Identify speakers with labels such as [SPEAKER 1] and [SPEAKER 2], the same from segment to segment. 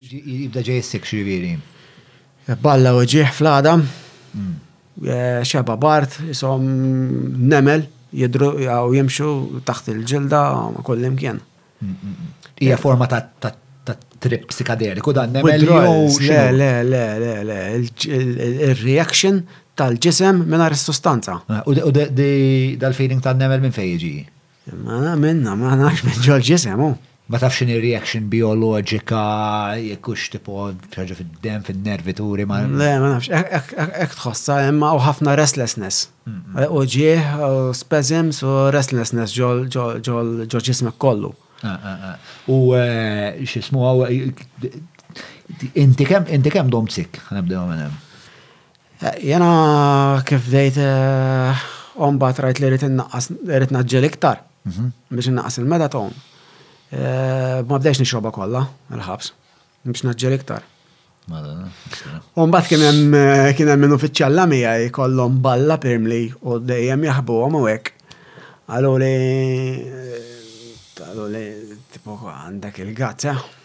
[SPEAKER 1] Jibda ġej is-sikx jiġifieri. Balla
[SPEAKER 2] u ġieħ fl-għada, xeba bart, isom nemel, jidru u jimxu taħt il-ġilda kullimkien. Hija
[SPEAKER 1] forma ta' trip psikadeliku dan nemel jew xi? Le, le, le,
[SPEAKER 2] le, il-reaction tal-ġisem mingħajr is-sustanza. U
[SPEAKER 1] dal-feeling tan-nemel minn fejn jiġi? Mela
[SPEAKER 2] minna, ma nafx minn ġol ġisem hu. Ma tafx x'inhi
[SPEAKER 1] reaction bioloġika jekk hux tipo ħaġa fid-demm, fin-nervi turi ma. Le, ma nafx,
[SPEAKER 2] hekk tħossha hemm hawn ħafna restlessness. U ġieħ, spasms u restlessness ġol ġismek kollu. U
[SPEAKER 1] x'ismu inti kemm domt sick, ħanibdew minn hemm.
[SPEAKER 2] Jiena kif bdejt u mbagħad rajt li rrid innaqqas rrid naġġel iktar biex innaqqas il-metaton. Ma bdejx nixrobha kollha il-ħabs biex naġġel iktar. U mbagħad kien hemm kien hemm min uffiċjalla miegħi kollhom balla pirmli u dejjem jaħbuhom u hekk. Qalu li qalu li tipo għandek il-gatt, eh?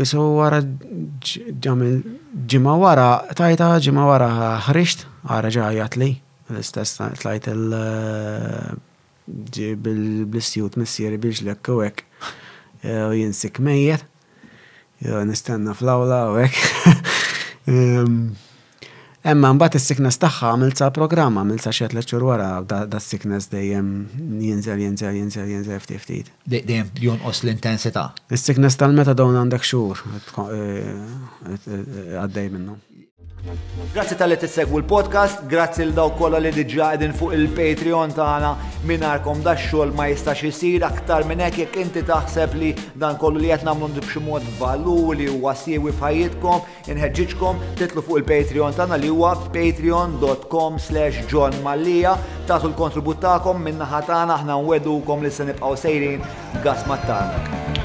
[SPEAKER 2] Isu wara ġamil ġimgħa wara, tajta ġimgħa wara ħriġt, għara ġajat li, l-istess tlajt il- ġib il-blistjut missieri biex l-ek u ek, u jinsik mejjet, nistenna fl-awla u ek. Emma imbagħad is-sickness tagħha għamiltha programm, għamiltha xi tliet xhur wara das-sickness dejjem jinżel, jinżel, jinżel, jinżel ftit ftit. Dejjem jonqos
[SPEAKER 1] l-intensità. Is-sickness tal-metadone
[SPEAKER 2] għandek xhur għaddej minnu. Grazzi
[SPEAKER 3] tal-li tissegwu l-podcast, grazzi l dawk kollha li diġà qegħdin fuq il-Patreon tagħna mingħajrkom da xogħol ma jistax isir aktar minn hekk jekk inti taħseb li dan kollu li qed nagħmlu b'xi mod valur li huwa siewi f'ħajjitkom Inħeġġiġkom titlu fuq il-Patreon tagħna li huwa patreon.com slash John Mallia tagħtu l-kontribut tagħkom min-naħa tagħna aħna nwedukom li se nibqgħu sejrin gas mat-tarnak.